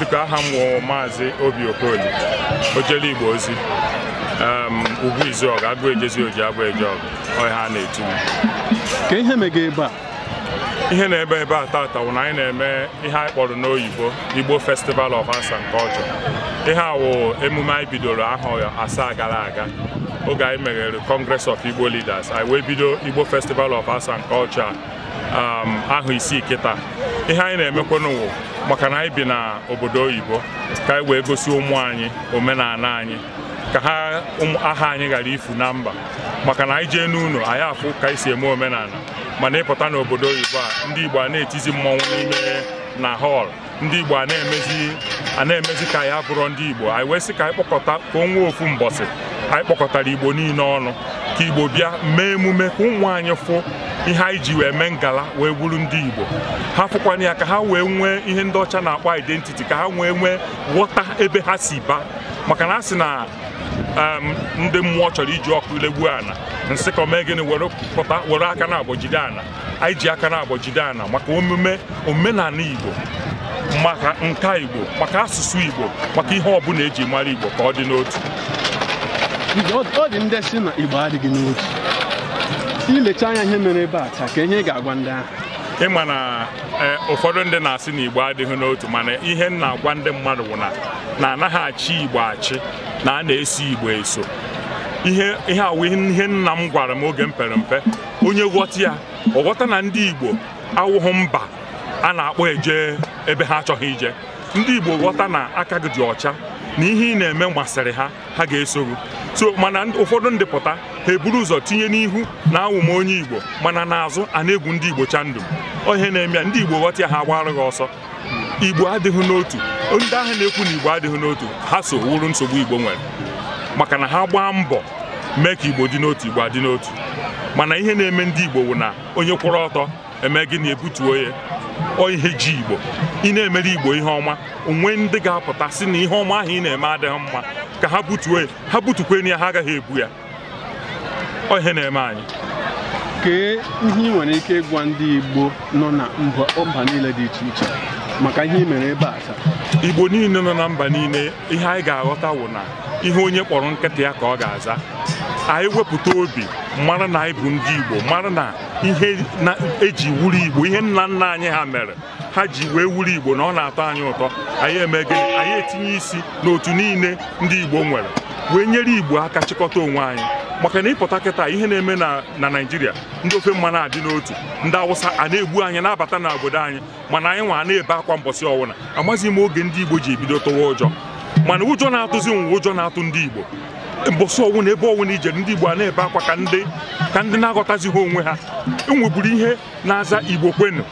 dịka aha m wụ maazị obi okoli ojele igbo ozi em, ugwu izuọgụ agụ ejezi oji abụ eje ọgụ ọ ihe a na-etu m. kee ihe mega ebe a ihe na-eme ebe a tata wụ na anyị na-eme ihe anyị kpọrọ n'oyibo igbo festival of arts and culture ihe a wụ emume anyị bidoro ahọ asaa gara aga oge anyị meghere congress of igbo leaders anyị wee bido igbo festival of arts and culture um, ahọ isii kịta ihe anyị na-emekwanụ wụ maka na anyị bi na obodo oyibo ka anyị wee gosi ụmụ anyị omenana anyị ka ha aha anyị ghara ifu na mba maka na anyị jee n'ụlọ anyị afụ ka anyị si eme omenana mana ị pụta n'obodo oyibo a ndị Igbo a na-etizi mmọnwụ n'ime na hall ndị Igbo a na-emezi ka ya abụrọ ndị Igbo anyị wee sị ka anyị kpọkọta ka o nwee ofu mbọsị anyị kpọkọtara Igbo niile ọnụ ka Igbo bịa mee emume ka ụmụ anyị fụ ihe anyị ji wee mee ngala wee bụrụ ndị Igbo ha fụkwana ya ka ha wee nwee ihe ndị ọcha na-akpọ identity ka ha wee nwee ghọta ebe ha si bịa maka na a sị na ndị mmụọ chọrọ iji ọkụ legbuo ana nsịkọ mee gịnị were aka naabọ jide ana anyị ji aka naabọ jide ana maka omume omenana Igbo maka nka Igbo maka asụsụ Igbo maka ihe ọbụla eji mara Igbo ka ọ dị n'otu ọ dị ndị sị na Igbo adịghị n'otu i lecha anya ihe mere ebe a taa kee ihe ị ga-agwa ndị ahụ ị ma na eh, ụfọdụ ndị na-asị na igbo adịghị n'otu mana ihe m na-agwa ndị mmadụ bụ na na anaghị achị igbo achị na a na-eso igbo eso ihe a wụ ihe nna m gwara m oge m pere mpe onye ghọta ya ọ ghọta na ndị Igbo awụghị mba a na-akpọ eje ebe ha achọghị ije ndị Igbo ghọta na aka gị dị ọcha na ihe ị na-eme masịrị ha ha ga-eso gị so mana ụfọdụ ndị pụta ha eburu ụzọ tinye n'ihu na awụ m onye Igbo mana n'azụ a na-egwu ndị Igbo chandum ihe na-eme ya ndị Igbo ghọta ya ha agbara gị ọsọ igbo adịghị n'otu ndị ahụ na-ekwu na igbo adịghị n'otu ha so wụrụ nsogbu igbo nwere maka na ha gbaa mbọ mee ka igbo dị n'otu igbo adị n'otu mana ihe na-eme ndị igbo wụ na onye kwụrụ ọtọ e mee gịnị e butuo ya ọ ihe ji igbo ị na-emere igbo ihe ọma o nwee ndị ga-apụta sị na ihe ọma ahụ ị na-eme adịghị mma ka ha butuo ya ha butukwe ya ha agaghị ebu ya ọ ihe na-eme anyị kee ihe ị nwere ike ịgwa ndị Igbo nọ na mba niile dị iche iche maka ihe ị mere ebe a taa Igbo niile nọ na mba niile ihe anyị ga-aghọta wụ na ihe onye kpọrọ nkịta ya ka ọ ga-aza anyị wepụta obi mara na anyị bụ ndị Igbo mara na ihe eji wụrụ Igbo ihe nna nna anyị ha mere ha ji wee wụrụ igbo na ọ na-atọ anyị ụtọ anyị eme gịnị anyị etinye isi n'otu niile ndị igbo nwere wee nyere igbo aka chịkọta onwe anyị maka na ị pụta kịta ihe na-eme na na naịjirịa ndị ofe mmanụ adị n'otu ndị awụsa a na-egbu anyị na-abata na obodo anyị mana anyị nwa na-ebe akwa mbọsị ọwụna amaghị m oge ndị igbo ji bido tụwa ụjọ mana ụjọ na-atụzi nwa ụjọ na-atụ ndị igbo mbọsị ọwụna ebe ọwụna i jere ndị igbo a na-ebe akwa ka ndị ka ndị na-aghọtazighị onwe ha e nweburu ihe na-aza igbo kwenu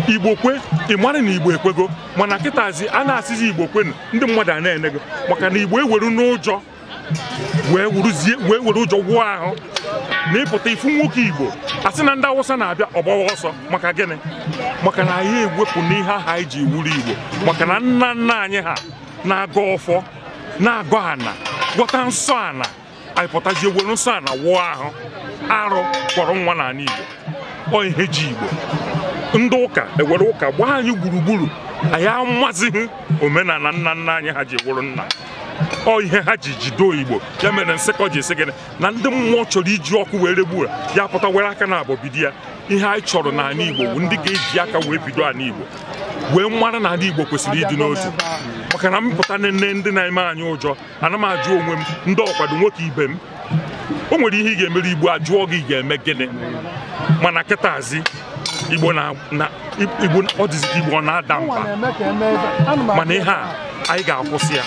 igbo kwe ị mara na igbo ekwego mana kịtazi a na-asịzi igbo kwenu ndị mmadụ a na-ene gị maka na igbo eweruna ụjọ wee wuruzie wee were ụjọ wụọ ahụ na ị pụta ị fụ nwoke igbo a sị na ndị awụsa na-abịa ọ gbawa ọsọ maka gịnị maka na anyị ewepụna ihe aha anyị ji wụrụ igbo maka na nna nna anyị ha na-agọ ọfọ na-agọ ana gwọta nsọ ana anyị pụtazie were nsọ ana wụọ ahụ arụ kpọrọ nwa n'ana Igbo ọ ihe ji Igbo ndị ụka ewere ụka gbaa anyị gburugburu anyị amazighị omenana nna nna anyị ha ji wụrụ nna ọ ihe ha ji jido Igbo ya mere nsịkọ ji sị gịnị na ndị mmụọ chọrọ iji ọkụ wee regbuo ya pụta were aka naabọ bido ya ihe anyị chọrọ n'ana Igbo bụ ndị ga-eji aka wee bido ana Igbo wee mara na ana Igbo kwesịrị ịdị n'otu maka na m pụta nene ndị na-eme anyị ụjọ ana m ajụ onwe m ndị ọkwado nwoke ibe m o nwere ihe ị ga-emere igbo a jụọ gị ị ga-eme gịnị mana kịtazi igbo na na- igbo ọ dịzi ka igbo ọ na-ada mba mana ihe a anyị ga-akwụsị ya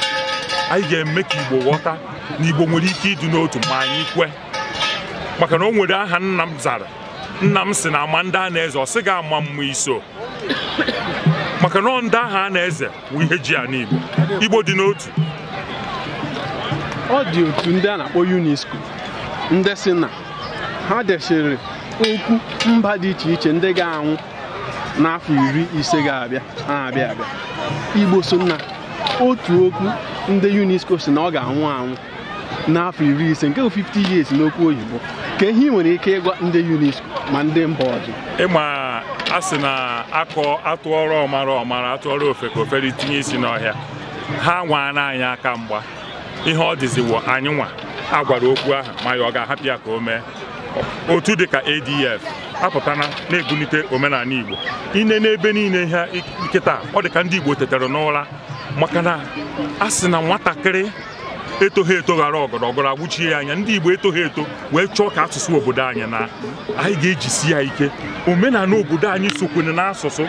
anyị ga-eme ka igbo ghọta na igbo nwere ike ịdị n'otu ma anyị kwe maka na o nwere aha nna m zara nna m sị na a ma ndị a na-eze ọ sị gị ama mma iso maka na ọ ndị aha a na-eze wụ ihe ji ana Igbo Igbo dị n'otu ọ dị otu ndị a na-akpọ UNESCO ndị sị na ha desịrị okwu mba dị iche iche ndị ga-anwụ n'afọ iri ise ga-abịa na-abịa abịa Igbo so na otu okwu ndị UNESCO sị na ọ ga-anwụ anwụ n'afọ iri ise nke bụ 50 years n'okwu oyibo kee ihe i nwere ike ịgwa ndị UNESCO ma ndị mba ọzọ ị ma a sị na akọ atụọrọ ọmara ọ mara atụọrọ ofeke o fere tinye isi n'ọhịa ha anwaana anyị aka mgba ihe ọ dịziwo anyị nwa a gwara okwu ahụ ma anyị ọ ga-ahapụ ya ka o mee otu dịka ADF apụtana na-ebunite omenana Igbo i nee n'ebe niile ha kịta ọ dịka ndị Igbo tetara n'ụra maka na a sị na nwatakịrị etoghị eto wara ọgọdọ ọgọdọ awụchie ya anya ndị Igbo etoghị eto wee chọọ ka asụsụ obodo anyị na anyị ga-ejisi ya ike omenana obodo anyị sokwene n'asụsụ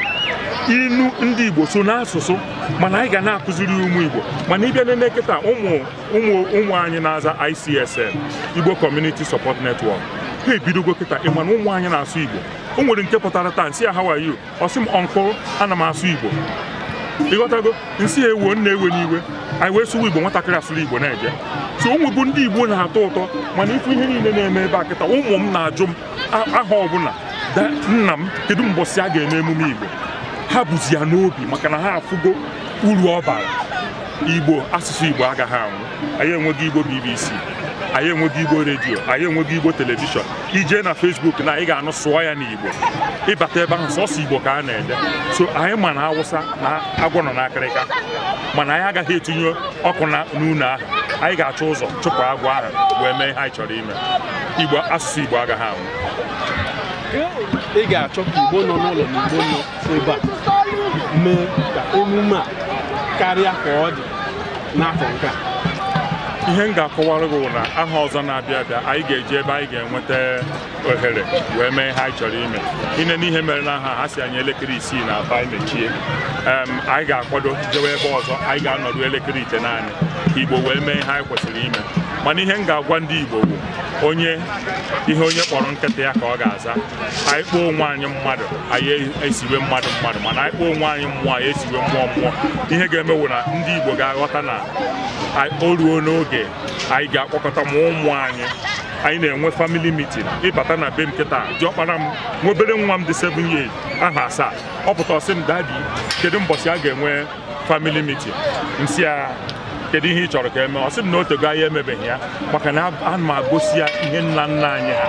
inu ndị Igbo so n'asụsụ mana anyị ga na-akụziri ụmụ Igbo mana ị bịa nene kịta ụmụ ụmụ ụmụ anyị na-aza ICSN Igbo Community Support Network ha ebidogo kịta ị ma na ụmụ anyị na-asụ Igbo o nwere nke pụtara taa m sị ya how are you ọ sị m uncle ana m asụ igbo ịghọtago nsị ya ewoo nna ewena iwe anyị wee sụwa igbo nwatakịrị asụrụ igbo na-eje so ụmụ bụ ndị igbo na-atọ ụtọ mana ịfụ ihe niile na-eme ebe a kịta ụmụ m na-ajụ m a- aha ọbụla da nna m kedu mbọsị a ga-eme emume igbo ha bụzi ya n'obi maka na ha afụgo uru ọ bara igbo asụsụ igbo agaghị anwụ anyị enwego igbo bbc anyị enwego igbo redio anyị enwego igbo telivishọn i je na Facebook na ị ga-anụ sụọ ya n'Igbo ị bata ebe ahụ sọsọ Igbo ka a na-ede so anyị ma na Awụsa na agwọ nọ n'akịrịka mana anyị agaghị etinye ọkụ na n'ụlọ ahụ anyị ga-achọ ụzọ chụpụ agwọ ahụ wee mee ihe anyị chọrọ ime Igbo asụsụ Igbo agaghị anwụ ị ga-achọ ka Igbo nọ n'ụlọ na Igbo nọ ebe a mee ka emume a karịa ka ọ dị n'afọ nke a ihe m ga-akọwara gị na aha ọzọ na-abịa abịa anyị ga-eje ebe anyị ga-enweta ohere wee mee ihe anyị chọrọ ime i nee n'ihe mere na aha a ha sị anyị elekere isii n'abanị mechie anyị ga-akwado jewe ebe ọzọ anyị ga-anọdụ elekere itenaanị ka igbo wee mee ihe anyị kwesịrị ime mana ihe m ga-agwa ndị igbo bụ onye ihe onye kpọrọ nkịta ya ka ọ ga-aza anyị kpọọ onwe anyị mmadụ anyị esiwe mmadụ mmadụ mana anyị kpọọ onwe anyị mmụọ anyị esiwe mmụọ mmụọ ihe ga-eme wụ na ndị Igbo ga-aghọta na o ruona oge anyị ga-akpọkọta ma ụmụ anyị anyị na-enwe famili mitin ị bata na be m kịta diọkpara m nwa obere nwa m dị 7 years aha asaa ọ pụta ọ sị m dadi kedu mbọchị a ga-enwe family meeting nsị ya kedu ihe ị chọrọ ka eme ọ sị m na otego anyị emebeghị ya maka na ana m agosi ya ihe nna nna anyị ha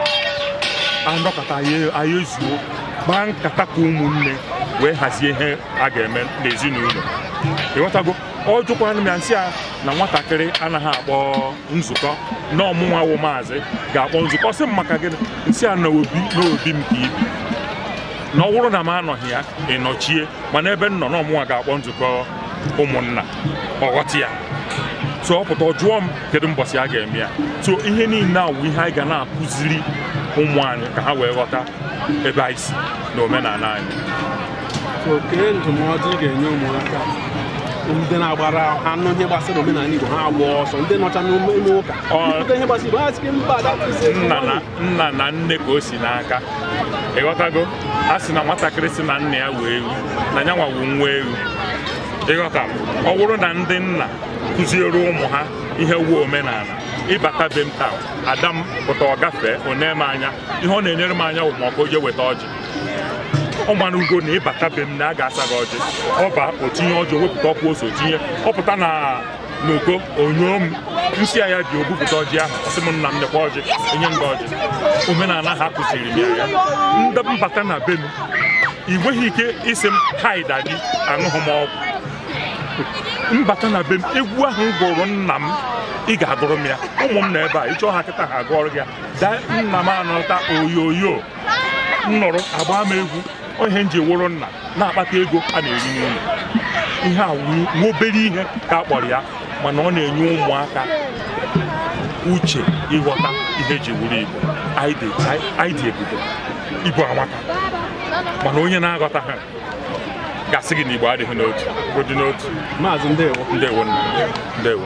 anọkọta anyị ezuo gbaa nkata ka ụmụnne wee hazie ihe a ga-eme n'ezinụlọ ịghọtago ọ jụkwara m ya nsị ya na nwatakịrị anaghị akpọ nzukọ na ọ mụnwa wụ maazị ga-akpọ nzukọ ọ sị m maka gịnị nsị ya na obi na obi m ka i bi na ọ bụrụ na m anọghị ya ị nọchie mana ebe m nọ na ọ mụnwa ga-akpọ nzukọ ụmụnna ọ ghọta ya so ọ pụta ọ jụọ m kedu mbọsị a ga-eme ya so ihe niile a wụ ihe anyị ga na-akụziri ụmụ anyị ka ha wee ghọta ebe anyị si na omenala anyị so kee ndụmọdụ ị ga-enye ụmụaka ndị na-agbara ha nụ ihe gbasara omenala Igbo ha agba ọsọ ndị nọcha n'ime ụka Ọ- ndị ihe gbasara Igbo ha sị mba that is it. nna na nna na nne ka o si n'aka ịghọtago a sị na nwatakịrị sị na nna ya wụ ewu na ya nwa wụ nwa ewu ịghọta ọ bụrụ na ndị nna kụziere ụmụ ha ihe wụ omenala ị bata be m taa ada m pụta ọ gafee o nee m anya ihe ọ na-enere m anya bụ maka o je weta ọjị ọ marugo na ị bata be m na a ga-asa gị ọjị ọ baa o tinye ọjị wepụta ọkwa ose o tinye ọ pụta na n'oko onyoo m nsị ya bi o bupụta ọjị ahụ ọ sị m nna m nekwa ọjị enye m gị ọjị omenala ha kụziri m ya ndị m bata na be m ị nweghị ike ịsị m hi daddy aṅụghị m ọgwụ m bata na be m egwu ahụ m gụrụ nna m ị ga-agụrụ m ya ụmụ m nọ ebe a ị chọọ ha kịta ha agụọrụ gị ya daa nna m anọta oyoyo m nụrụ agba m egwu ihe m ji wụrụ nna na-akpata ego a na-eri n'ụlọ ihe a wụ obere ihe ka a kpọrọ ya mana ọ na-enye ụmụaka uche ịghọta ihe e ji wụrụ igbo anyị dị ebube igbo amaka mana onye na-aghọtaha ga-asị gị na igbo adịghị n'otu ọ dị n'otu maazị ndewo ndewo ndewo